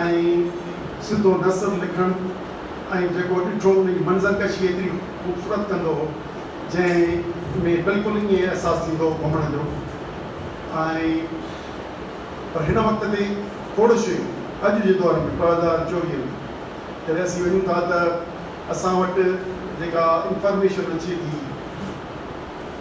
۽ سڌو نثر لکڻ ۽ جيڪو ڏٺو ان جي منظر ڪشي ايتري خوبصورت ڪندو هو جنهن ۾ بلڪل ائين احساس ٿيندو هو گهمڻ جو ۽ پر هن وقت تي کوڙ شيون اڄ جي دور ۾ ٻه هزار چوويهه ۾ جڏهن اسين وڃون ٿا ته اسان وٽ جيڪا انفارميشن اچي ٿي.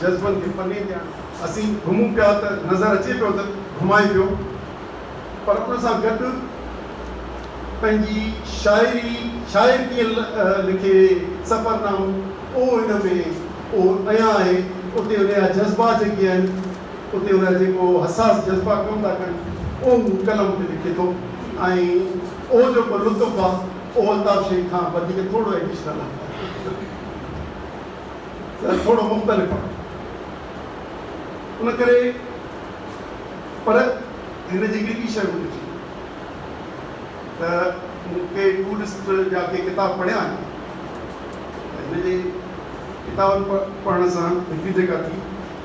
جذبن کي پني تي آڻي. اسين گهمون پيا ته نظر اچي پيو ته گهمائي پيو پر ان سان گڏ پنهنجي شاعري شاعر ڪيئن لکي سفر نامو اهو هن ۾ اهو اڃا آهي اتي ان جا جذبا جيڪي آهن اتي ان جا جيڪو حساس جذبا ڪم ٿا ڪن اهو هو قلم تي لکي ٿو ۽ اهو جيڪو لطف آهي اهو الطاف شيخ کان وڌيڪ ٿورڙو ايڊيشنل آهي. ته ٿورو مختلف آهي ان ڪري پر هن جي هڪڙي ٻي شيء مون کي چئي ته مون ڪي ٻوڏسٽ جا ڪي ڪتاب پڙهيا آهن ته هن جي ڪتابن پڙهڻ سان هڪ جيڪا ٿي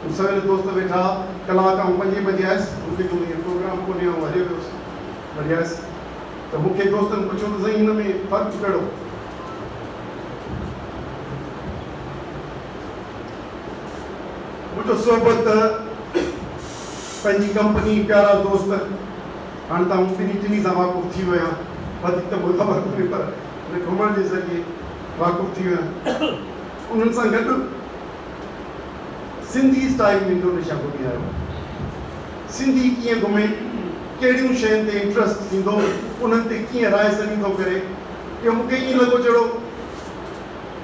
مون سوير دوست ويٺا ڪلاڪ آئون پنجين بجي آيس مون کي جو هيء پروگرام کولي آئون هليو ويس وري آيس ته مون کي دوستن پڇيو ته سائين هن ۾ فرق ڪهڙو مٺ صحبت پنهنجي ڪمپني پيارا دوست هاڻ ته آئون ٻنهي ٽنهي سان واقف ٿي ويو آهيان وڌيڪ ته مون کي خبر ڪونهي پر هن گهمڻ جي ذريعي واقف ٿي ويو آهيان انهن سان گڏ سنڌي اسٽائيل ۾ انڊونيشيا گهمي آيو آهيان سنڌي ڪيئن گهمي ڪهڙيون شين تي انٽرسٽ ٿيندو انهن تي ڪيئن راء سڃي ٿو ڪري اهو مون کي ائين لڳو جهڙو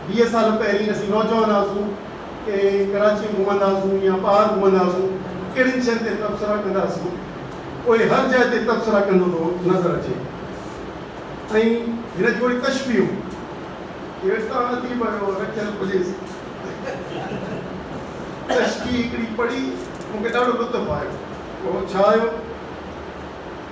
ويهه سال پهرين اسين نوجوان هئاسون ته ڪراچيء ۾ گهمندا هئاسون يا ٻاهر گهمندا هئاسون ڪهڙين شين تي تبصرا ڪندا هئاسون پوء هر جاء تي تبصرا ڪندو ٿو نظر اچي ۽ هن جون اهي تشبيهون ڪير ساڻ اديب آهيو رکيل پليز تشبيهه هڪڙي پڙهي مون کي ڏاڍو لطف آيو اهو ڇا آهيو؟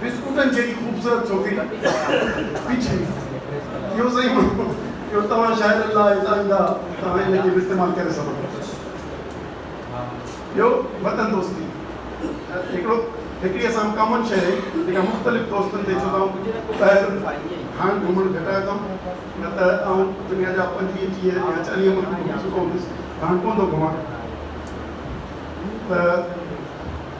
بسڪوٽن جهڙي خوبصورت ڇوڪري ڏانهن پيڇي ويس. اهو سائين ماڻهو جو توهان شاعرن لاء هتان ايندا توهان ان کي به استعمال ڪري سگهو ٿا. ٻيو وطن دوستي هڪڙو هڪڙي اسان وٽ ڪامن شيء آهي جيڪا مختلف دوستن تي ڇوتائون پهرن کان گهمڻ گهٽايو اٿم نه ته آئون دنيا جا پنجويهه ٽيهه يا چاليهه ملڪ گهمي چڪو هوندس هاڻ ڪونه ٿو گهمان ته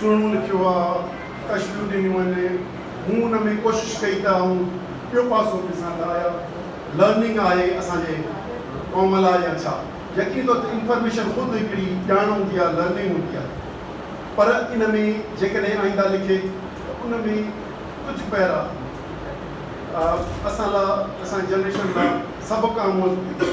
سهڻو لکيو آ، تشريحون ڏنيون آهن، مون ان ۾ ڪوشش ڪئي ته آئون ٻيو پاسو به ڏسان ته آيا لرننگ آهي اسان جي قوم لاء يا ڇا؟ يقيني طور تي انفارميشن خود هڪڙي ڄاڻ هوندي آ، لرننگ هوندي آ، پر ان ۾ جيڪڏهن آئنده لکي ته ان ۾ ڪجهه پيرا اسان لا اسان جي جنريشن لا سبق آموز هجي.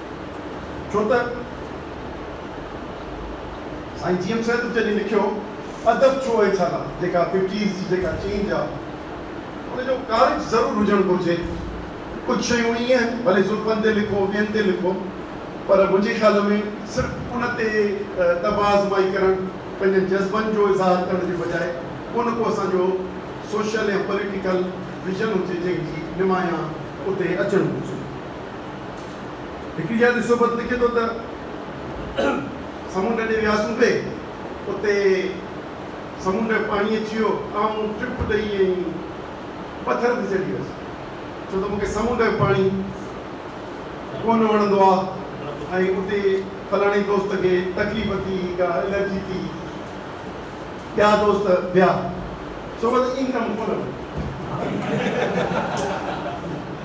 ڇو ته سائين جي ايم سيد جڏهن لکيو ادب ڇو اهي ڇالاء جيڪا ففٽيز جي جيڪا چينج آ ان جو ڪارج ضرور هجڻ گهرجي ڪجهه شيون ائين آهن ڀلي زلفن تي لکو ٻين تي لکو پر منهنجي خيال ۾ صرف ان تي طبع آزمائي ڪرڻ پنهنجن جذبن جو اظهار ڪرڻ جي بجاء ان ڪو اسان جو سوشل يا پوليٽيڪل ويزن هجي جنهن جي نمايان اتي اچڻ گهرجي. هڪ يادي صحبت لکي ٿو ته، سمنڊ ڏي وياسون پي، اتي سمنڊ جو پاڻي اچي ويو، آئون ٽپ ڏئي ائين پٿر تي چڙهي ويس، ڇو ته مون کي سمنڊ جو پاڻي ڪونه وڻندو آ ۽ اتي فلاڻي دوست کي تڪليف ٿي يا الرجي ٿي، ٻيا دوست ڀيا صحبت ايندرم ڪونه وڻي.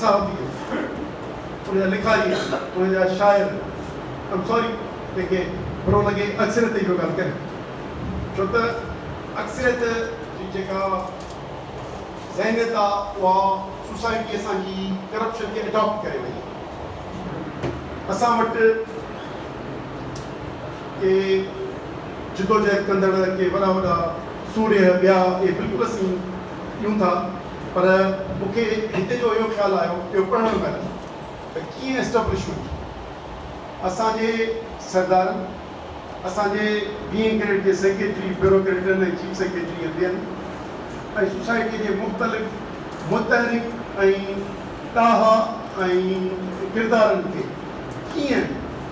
صحافي آهن ان جا لکاري آهن ان جا شاعر آهن سوري جن کي برو لڳي اڪثريت جي پيو ڳالهه ڪريان ڇو ته اڪثريت جي جيڪا ذهنيت آهي اها سوسائٽي اسان جي ڪرپشن کي اڊاپٽ ڪري وئي آهي اسان وٽ ڪي جدوجهد ڪندڙ ڪي وڏا وڏا سورهيه ٻيا اهي بلڪل اسين ڏيون ٿا. پر مون کي هتي جو اهو خيال آيو، اهو پڙهڻ مهل ته ڪيئن اسٽبلشمينٽ اسان جي سردارن، اسان جي بينگ گريڊ جي سيڪريٽري، بيوروڪريٽن ۽ چيف سيڪريٽري ۽ ٻين ۽ سوسائٽيء جي مختلف متحرڪ ۽ ڏاها ۽ ڪردارن کي ڪيئن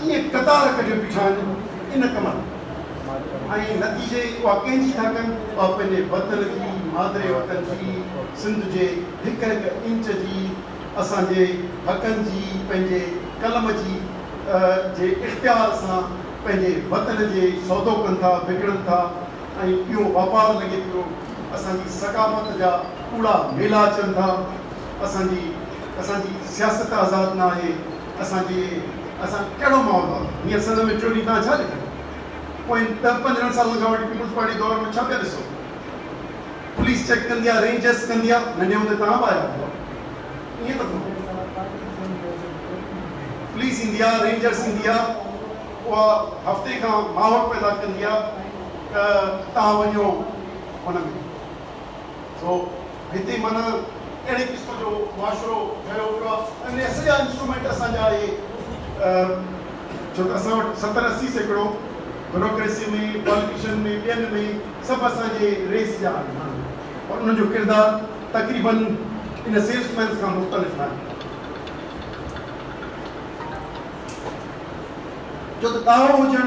ڪيئن قطار ڪڍيو بيٺا آهن ان ڪم ۾ ۽ نتيجي اها ڪنهن جي ٿا ڪن؟ اها پنهنجي وطن جي، مادري وطن جي، سنڌ جي هڪ هڪ انچ جي، اسان جي حقن جي، پنهنجي قلم جي جي اختيار سان پنهنجي وطن جي سودو ڪن ٿا، وڪڻن ٿا ۽ اهو واپار لڳي پيو اسان جي ثقافت جا ڪوڙا ميلا اچن ٿا، اسان جي اسان جي سياست آزاد نه آهي. اسان جي اسان ڪهڙو ماحول هئا هينئر سنڌ ۾ چونڊي تان ڇا ڏٺو پوئين ڏهه پندرهن سالن کان وٺي پيپلز پارٽي دور ۾ ڇا پيا ڏسو پوليس چيڪ ڪندي آ رينجرس ڪندي آ ننڍي هوندي توهان به آيا هئا ائين ته ڪونه پوليس ايندي آ رينجرس ايندي آ اها هفتي کان ماحول پيدا ڪندي آ ته توهان وڃو ان ۾ سو هتي معنيٰ اهڙي قسم جو معاشرو ٺهيو پيو آهي ۽ ان جا سڄا انسٽرومينٽ اسان جا اهي ڇو ته اسان وٽ ستر اسي سيڪڙو بيوروڪريسي ۾ پاليٽيشن ۾ ٻين ۾ سڀ اسان جي ريس جا آهن ماڻهو پر انهن جو ڪردار تقريباً ان سيلس مينس کان مختلف آهي ڇو ته ڏاهو هجڻ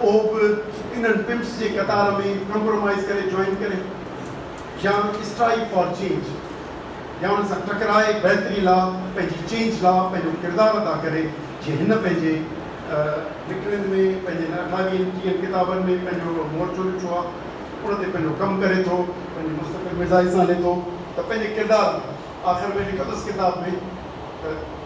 اهو به انهن پمپس جي قطار ۾ ڪمپرومائيز ڪري جوائن ڪري يا اسٽرائيڪ فار چينج يا ان سان ٽڪرائي بهتري لا پنهنجي چينج لا پنهنجو ڪردار ادا ڪري جي هن پنهنجي لکڻين ۾ پنهنجي هن اٺاويهن ٽيهن ڪتابن ۾ پنهنجو هڪڙو مورچو ڏٺو آ ان تي پنهنجو ڪم ڪري ٿو پنهنجي مستقل مزاج سان لکي ٿو ته پنهنجي ڪردار ۾ آخر ۾ لکندس ڪتاب ۾ ته.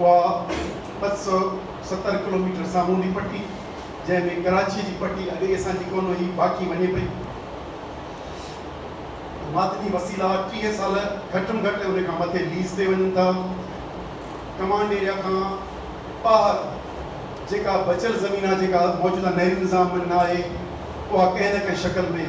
اها ٻه سؤ ستر ڪلوميٽر سامونڊي پٽي، جنهن ۾ ڪراچيء جي پٽي اڳ ئي اسان جي ڪونه هئي، باقي وڃي پئي. معدني وسيلا ٽيهه سال گهٽ ۾ گهٽ ۽ ان کان مٿي ليز تي وڃن ٿا. ڪمانڊ ايريا کان ٻاهر جيڪا بچيل زمين آهي، جيڪا موجوده نهري نظام ۾ نه آهي، اها ڪنهن نه ڪنهن شڪل ۾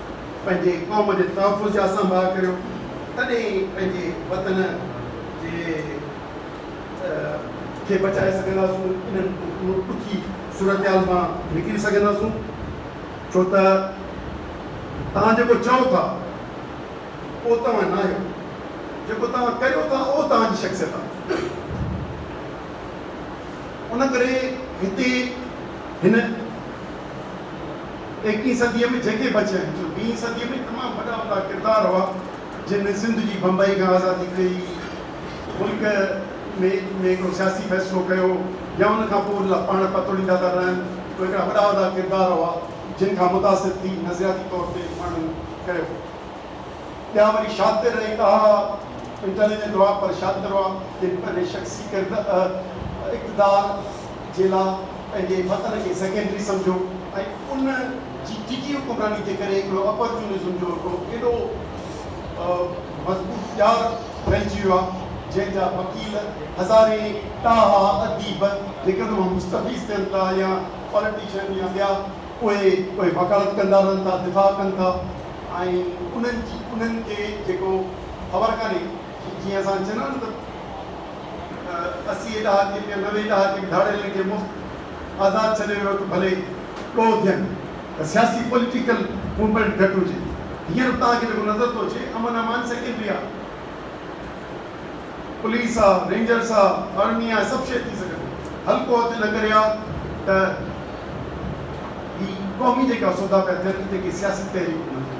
پنهنجي قوم جي تحفظ جا سنڀاء ڪريو تڏهن ئي پنهنجي وطن جي کي بچائي سگهنداسون انهن ڏکي صورتحال مان نڪري سگهنداسون ڇو ته توهان جيڪو چئو ٿا اهو توهان ناهيو جيڪو توهان ڪريو ٿا اهو توهان جي شخصيت آهي ان ڪري هتي هن ايڪيهين صديء ۾ جيڪي بچيا آهن سو ويهين صديء ۾ تمام وڏا وڏا ڪردار هئا جن سنڌ جي بمبئي کان آزادي ڪئي، ملڪ ۾ ۾ هڪڙو سياسي فيصلو ڪيو يا ان کان پوء ان لاء پاڻ پتوڙيندا ٿا رهن، اهي هڪڙا وڏا وڏا ڪردار هئا جن کان متاثر ٿي نظرياتي طور تي ماڻهن ڪيو. ٻيا وري شاطر ۽ اها انٽيليجنٽ هئا پر شاطر هئا جن پنهنجي شخصي ڪرد اقتدار، جي لا پنهنجي وطن کي سيڪنڊري سمجهيو ۽ ان جي ڊگهي حڪمراني جي ڪري هڪڙو اپورچونزم جو هڪڙو ايڏو مضبوط ڄار ڦهلجي ويو آهي جنهن جا وڪيل هزارين ٽاها اديب جيڪڏهن اهي مستفيض ٿين ٿا يا پاليٽيشن يا ٻيا اهي اهي وڪالت ڪندا رهن ٿا دفاع ڪن ٿا ۽ انهن جي انهن کي جيڪو خبر ڪانهي جيئن اسان چئندا آهيون نه ته اسي ڏهاڪين يا نوي ڏهاڪين ڌاڙيلن کي مفت آزاد ڇڏي ويو ته ڀلي ڏوهه ٿين ته سياسي پوليٽيڪل موومينٽ گهٽ هجي هينئر توهان کي جيڪو نظر ٿو اچي امن امان سيڪنڊري آهي پوليس آهي رينجرس آهي آرمي آهي سڀ شيء ٿي سگهن ٿيون حلقو هٿ نه ڪري آهي ته هي قومي جيڪا سودا پيا ٿين تنهن کي سياسي تحريڪون نه ٿين.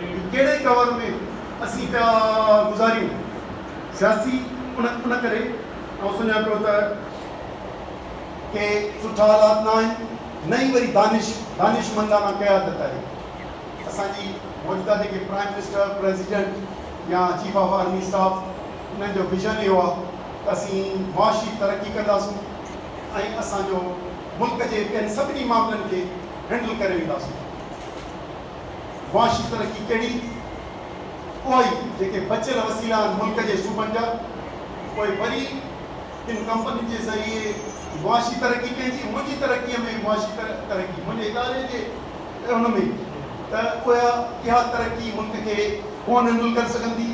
هي ڪهڙي ڪور ۾ اسين پيا گذاريون سياسي ان ان ڪري آئون سمجهان پيو ته ڪي سٺا حالات نه آهن نه ئي وري دانش دانشمندانه قيادت آهي اسان جي موجوده جيڪي پرائيم منسٽر پريزيڊنٽ يا چيف آف آرمي اسٽاف انهن جو ويزن اهو آهي ته اسين معاشي ترقي ڪنداسون ۽ اسان جو ملڪ جي ٻين سڀني معاملن کي هينڊل ڪري وينداسون. معاشي ترقي ڪهڙي اها ئي جيڪي بچيل وسيلا آهن ملڪ جي صوبن جا پوء وري تن ڪمپنين جي ذريعي معاشي ترقي ڪئي ٿي منهنجي ترقي ۾ معاشي ترقي منهنجي اداري جي ان ۾ ته اها اها ترقي ملڪ کي ڪو نهنڊل ڪري سگهندي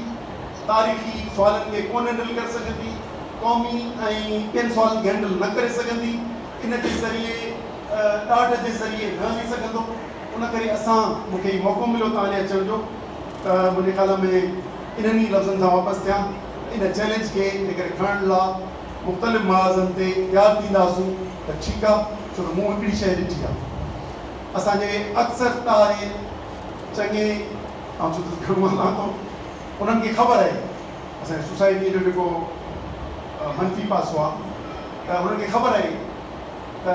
تاريخي سوالن کي ڪو نهنڊل ڪري سگهندي قومي ۽ ٻين سوالن کي هينڊل نه ڪري سگهندي ان جي ذريعي ڏاڍ جي ذريعي نه هلي سگهندو. ان ڪري اسان مون کي هي موقعو مليو توهان ڏي اچڻ جو ته منهنجي خيال ۾ انهن ئي لفظن سان واپس ٿيان ان چئلينج کي جيڪڏهن کڻڻ لا مختلف محاذن تي تيار ٿينداسون ته ٺيڪ آ ڇو ته مون هڪڙي شيء ڏٺي آ اسان جي اڪثر تاري چڱي آئون ڇو ته گهڻو هلان ٿو انهن کي خبر آهي اسان جي سوسائٽيء جو جيڪو منفي پاسو آ ته انهن کي خبر آهي ته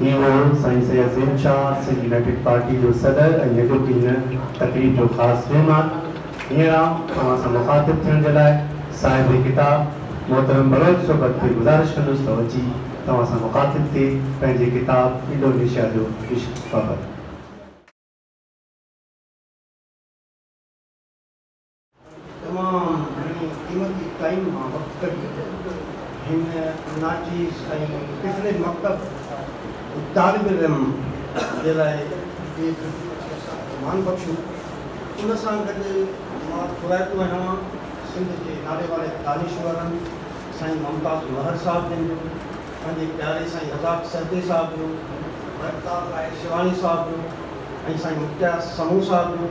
هي هو سائين سيد زين شاهه، سنڌ يونائيٽيڊ پارٽي جو صدر ۽ هيڏو ڪي هن تقريب جو خاص مهمان. هينئر آئون اوهان سان مخاطب ٿيڻ جي لاء صاحب ڪتاب محترم بلوچ صحبت کي گذارش ڪندس ته هو اچي توهان سان مخاطب ٿئي پنهنجي ڪتاب انڊونيشيا جو عشق بابت. تمام گهڻي قيمتي ٽائيم مان وقت ڪڍي هن ناچيز ۽ پڇڙي مڪتب جي طالب علم جي لاء هي سامان بخشيو ان سان گڏ مان ٿورائتو آهيان سنڌ جي ناليواري دانشورن سائين ممتاز مهر صاحب جن جو پنهنجي پياري سائين رزاق سهتي صاحب جو ورتال راء شيواني صاحب جو ۽ سائين مختيار سمون صاحب جو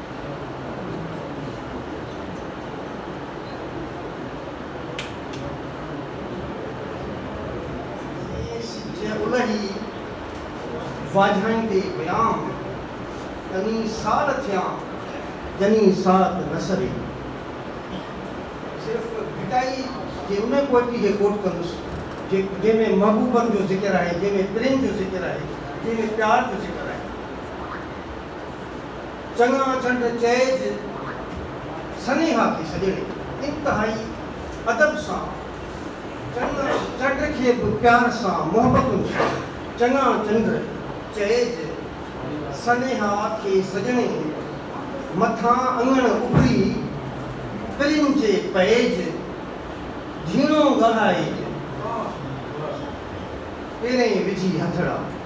الهي واجهائيندي ويام، تني سال ٿيان جني ساعت نه سري. صرف ڀٽائي جي ان پوئٽري کي ڪوٽ ڪندس، جنهن ۾ محبوبن جو ذڪر آهي، جنهن ۾ پرين جو ذڪر آهي، جنهن ۾ پيار جو ذڪر آهي. چڱا چنڊ چئج سنيها کي سڄڻي انتهائي ادب سان چڱا چنڊ کي به پيار سان محبتن سان چڱا چنڊ چئج سنيها کي سڄڻي مٿان اڱڻ اڀري پرين جي پئج جهيڻو ڳالهائج پيرين وجهي هٿڙا.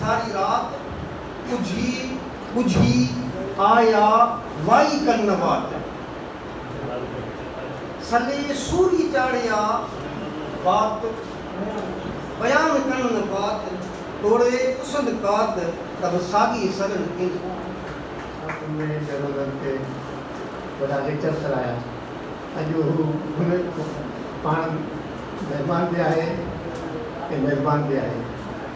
ساري رات اجهي ٻجهي آيا وائي ڪن واٽ. سلي سوري چاڙهيا بات بيان ڪن بات توڙي پسند ڪات تب ساڳي سڳن ڪين. ساٿ ۾ جهرولن تي وڏا ليڪچر سرايا. اڄ هو هن پاڻ مهمان به آهي ۽ ميزبان به آهي.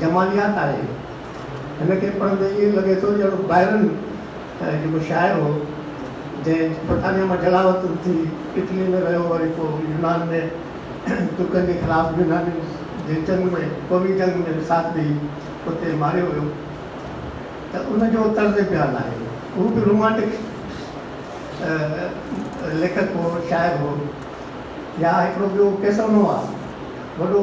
جماليات آهي. هن کي پڙهندي ائين لڳي ٿو ڄڻ بائرن جيڪو شاعر هو جنهن برطانيا مان جلا وطن ٿي اٽلي ۾ رهيو وري پوء يونان ۾ ترڪن جي خلاف يونانين جي جنگ ۾ قومي جنگ ۾ ساٿ ڏئي اتي ماريو ويو ته ان جو طرز بيان آهي. هو به رومانٽڪ ليکڪ هو شاعر هو. يا هڪڙو ٻيو ڪيسونووا وڏو.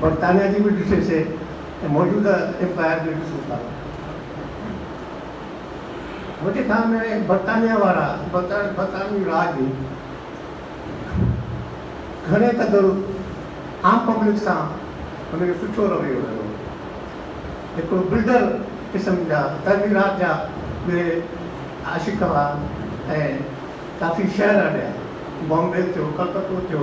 برطانيا جي به ڏسي سي ۽ موجوده امپائر به ڏسون ٿا. منهنجي خيال ۾ برطانيا وارا برطانوي راڄ گهڻي قدر عام پبلڪ سان هن جو سٺو رويو رهيو. هڪڙو بلڊر قسم جا تعميرات جا به عاشق هئا ۽ ڪافي شهر اڏيا. بامبي ٿيو، ڪلڪتو ٿيو.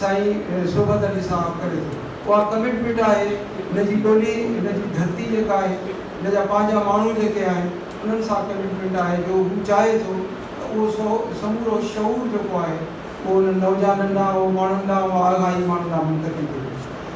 سائين صحبت علي صاحب ڪري ٿو اها ڪمٽمينٽ آهي هن جي ٻولي هن جي ڌرتي جيڪا آهي هن جا پنهنجا ماڻهو جيڪي آهن انهن سان ڪمٽمينٽ آهي جو هو چاهي ٿو ته اهو سو سمورو شعور جيڪو آهي اهو انهن نوجانن ڏانهن اهو ماڻهن ڏانهن اها آگاهي ماڻهن ڏانهن منتقل ٿي وڃي.